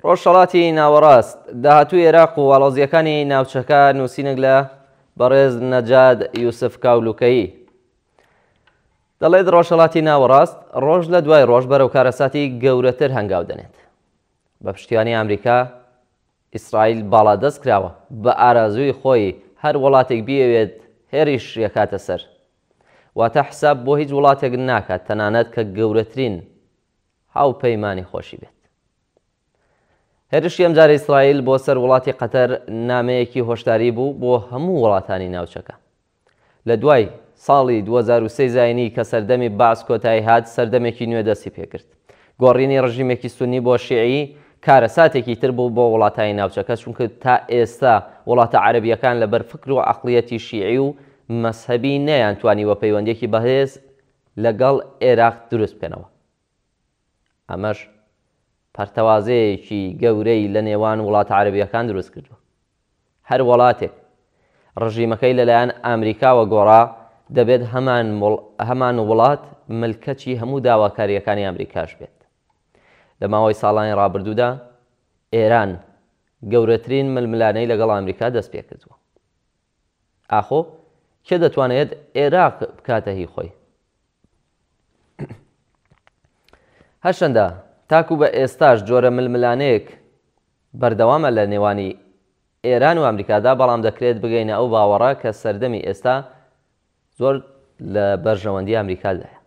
ڕۆژهەڵاتی ناوەڕاست، داهاتووی ئێراق و ئاڵۆزییەکانی ناوچەکە، نووسینێک لە بەڕێز نەجاد یوسف کاولوکەیی. دەڵێت ڕۆژهەڵاتی ناوەڕاست ڕۆژ لە دوای ڕۆژ بەرەو کارەساتی گەورەتر هەنگاو دەنێت. بە پشتیوانی ئەمریکا، ئیسرائیل باڵادەست کراوە، بە ئارازووی خۆی هەر وڵاتێک بیەوێت هێرش یەکاتە سەر. واتە حساب بۆ هیچ وڵاتێک ناکات تەنانەت کە گەورەترین هاوپەیمانی خۆشی بێت. هێرشی ئەمجارەی ئیسرائیل بۆ سەر وڵاتی قەتەر نامەیەکی هۆشداری بوو بۆ هەموو وڵاتانی ناوچەکە. لە دوای ساڵی دوو هەزار و سێ زایینی کە سەردەمی بەعس کۆتایی هات، سەردەمێکی نوێ دەستی پێکرد. گۆڕینی ڕژیمێکی سوننی بۆ شیعی کارەساتێکی تر بوو بۆ وڵاتانی ناوچەکە، چونکە تا ئێستا وڵاتە عەرەبییەکان لەبەر فکر و عەقڵیەتی شیعی و مەزهەبی نەیانتوانیوە پەیوەندییەکی بەهێز لەگەڵ عێراق دروست بکەنەوە، ئەمەش پەرتەوازەیەکی گەورەی لە نێوان وڵاتە عەرەبییەکان دروست کردووە، هەر وەڵاتێک ڕژیمەکەی لەلایەن ئامریکاوە گۆڕا، دەبێت هەمان وڵات ملکەچی هەموو داواکارییەکانی ئامریکاش بێت. لە ماوەی ساڵانی ڕابردوودا ئێران گەورەترین ململانێی لەگەڵ ئامریکا دەست پێکردووە. ئاخۆ کێ دەتوانێت ئێراق بکاتە هی خۆی؟ هەرچەندە تاکو بە ئێستاش جۆرە ململانێیەک بەردەوامە لە نێوانی ئێران و ئەمریکادا، بەڵام دەکرێت بگەینە ئەو باوەڕە کە سەردەمی ئێستا زۆر لە بەرژەوەندی ئامریکادایە.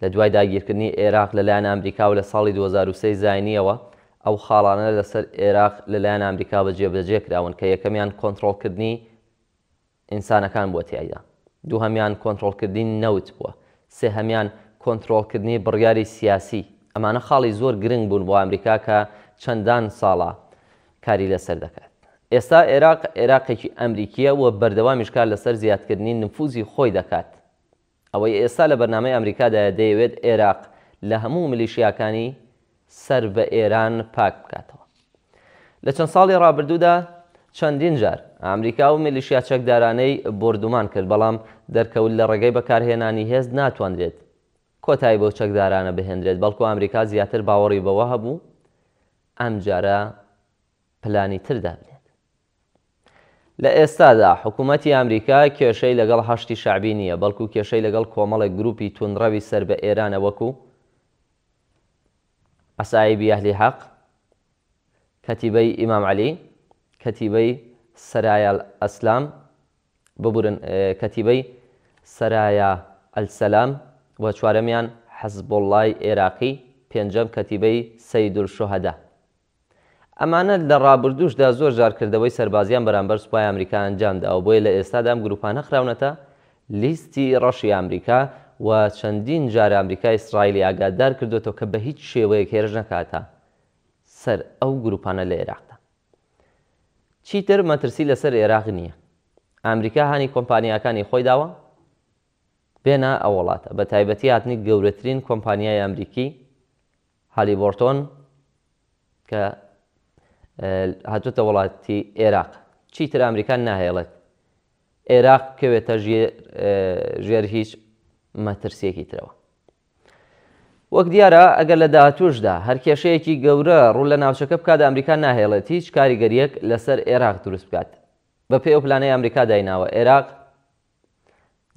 لە دوای داگیرکردنی ئێراق لە لایەن ئامریکا و لە ساڵی دوو هەزار و سێ زاینییەوە ئەو خاڵانە لە سەر ئێراق لە لایەن ئامریکاوە جێبەجێ کراون کە یەکەمیان کۆنتڕۆڵکردنی ئینسانەکان بووە تیایدا، دووهەمیان کۆنتڕۆڵکردنی نەوت بووە، سێهەمیان کۆنتڕۆڵکردنی بڕیاری سیاسی. ئەمانە خاڵی زۆر گرنگ بوون بۆ ئامریکا کە چەندان ساڵە کاری لەسەر دەکات. ئێستا عێراق عێراقێکی ئەمریکییە و بەردەوامیش کار لەسەر زیادکردنی نفوزی خۆی دەکات. ئەوەی ئێستا لە بەرنامەی ئەمریکادایە دەیەوێت عێراق لە هەموو ملیشیاکانی سەر بە ئێران پاک بکاتەوە. لە چەند ساڵی ڕابردوودا چەندین جار ئەمریکا ئەو ملیشیا چەکدارانەی بۆردومان کرد، بەڵام دەرکەوت لە ڕێگەی بەکارهێنانی هێز ناتوانرێت کۆتایی بەو چەکدارانە بهێنرێت، بەڵکو ئەمریکا زیاتر باوەڕی بەوە هەبوو ئەم جارە پلانی تر دابنێت. لە ئێستادا حکوومەتی ئامریکا کێشەی لەگەڵ حەشدی شەعبی نییە، بەڵکوو کێشەی لەگەڵ کۆمەڵێک گرووپی تووندڕەوی سەر بە ئێرانە وەکوو، عەسائیبی ئەهلی حەق، کەتیبەی ئیمام عەلی، کەتیبەی سەرایالئەسلام ببورن کەتیبەی سەرایا ئەلسەلام و چوارەمیان حزبوڵڵای ئێراقی پێنجەم کەتیبەی سەیدولشوهەدا. ئەمانە لە ڕابردووشدا زۆر جار کردەوەی سەربازییان بەرامبەر سوپای ئامریکا ئەنجام داوە بۆیە لە ئێستادا ئەم گرووپانە خراونەتە لیستی ڕەشی ئامریکا و چەندین جار ئامریکا ئیسرائیلی ئاگادار کردۆتەوە کە بە هیچ شێوەیەک هێرش نەکاتە سەر ئەو گرووپانە لە ئێراقدا. چیتر مەترسی لەسەر ئێراق نییە. ئامریکا هانی کۆمپانیاکانی خۆی داوە بێنە ئەو وڵاتە، بە تایبەتی هاتنی گەورەترین کۆمپانیای ئامریکی هالیبۆرتۆن کە هاتووتە وڵاتی ئێراق. چیتر ئامریکا ناهێڵێت ئێراق بکەوێتە ژێر هیچ مەترسیەکی ترەوە. وەک دیارە ئەگەر لە داهاتووشدا هەر کێشەیەکی گەورە ڕوو لە ناوچەکە بکات ئەمریکا ناهێڵێت هیچ کاریگەرییەک لەسەر ئێراق دروست بکات بەپێی ئەو پلانەی ئەمریکا دایناوە ئێراق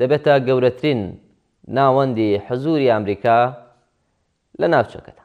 دەبێتە گەورەترین ناوەندی حزووری ئەمریکا لە ناوچەکەدا.